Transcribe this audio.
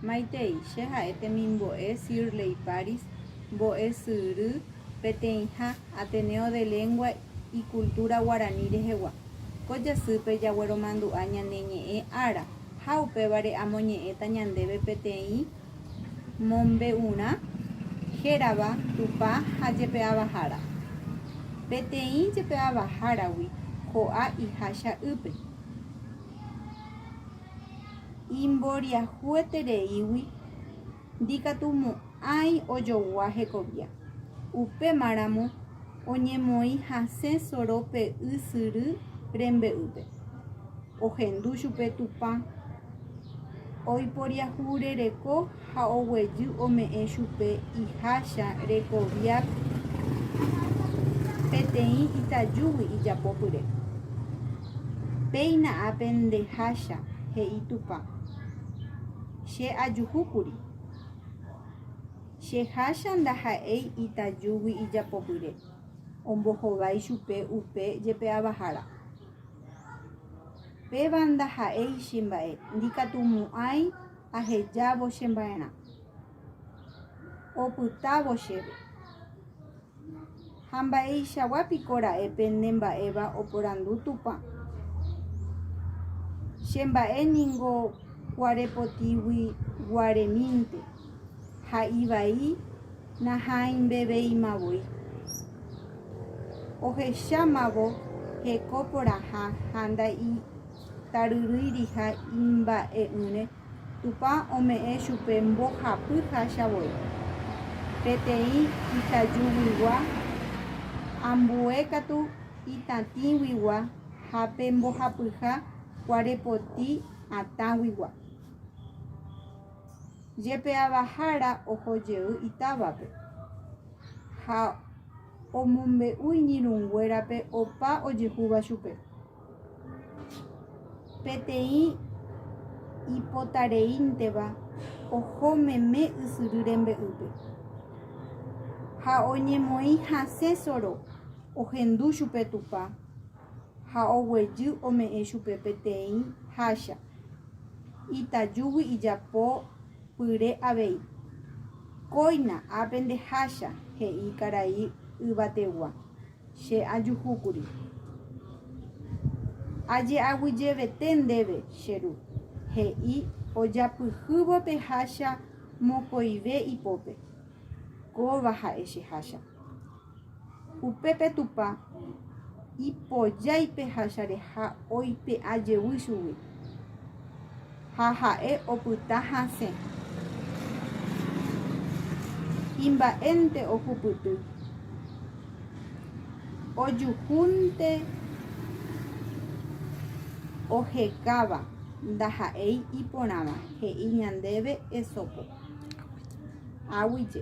Maitei, che ha'e temimbo'e Sirley Paris, mbo'esyry peteĩha Ateneo de Lengua y Cultura Guarani rehegua. Ko jasýpe jagueromandu'a ñane ñe'ẽ ára ha upévare amoñe'ẽta ñandéve peteĩ mombe'urã hérava Tupã ha Jepe'avahára. Peteĩ Jepe'avaháragui ko'a ihácha ýpe. imboriahuetereígui ndikatumo'ãi ojogua hekovia. Upémaramo oñemoĩ hasẽ sorópe ysyry rembe'ýpe. Ohendu chupe Tupã oiporiahurereko Ha oguejy ome'ẽ chupe iháicha Rekoviav peteĩ itajúgui ijapopyre. Péina ápe ndeháicha, he'i Tupã. Che ajuhúkuri. Che háicha ndaha'éi itajúgui ijapopyre, ombohovái chupe upe jepe avahára. Péva ndaha'éi che mba'e, ndikatumo'ãi. Ahejávo che mba'erã, opytávo chéve. Ha mba'eichagua piko ra'e pene mba'éva oporandu Tupã? Che mba'e ningo kuarepotigui guaremínte, ha ivai nahãimbeveima voi. Ohechámavo heko porãha ha nda'i. taryrýiriha imba'e'ỹre, Tupã ome'ẽ chupe mbohapy hácha voi. Peteĩ itajuguigua ambue katu itatĩguigua ha pe mbohapyha kuarepoti atãguigua. Jepe avahára oho jey itávape ha omombe'u iñirũnguérape opa ojehúva chupe. Peteĩ ipotareínteva oho meme ysyry rembe'ýpe, ha oñemoĩ hasẽ soro, ohendu chupe Tupã ha oguejy ome'ẽ chupe peteĩ hácha itajúgui ijapo pyre avei. Kóina ápe nde hácha, he'i karai yvategua. Che ajuhúkuri. Aje'aguyjevete ndéve, che ru, he'i ojapyhývo pe hácha mokõive ipópe. Kóva ha'e che hácha. Upépe Tupã ipojái pe hácha reha oipe'ajevy chugui. Ha ha'e opyta hasẽ. Imba'énte ohupyty. Ojuhúnte ohekáva ndaha'éi iporãva, he'i ñandéve Esopo. Aguije.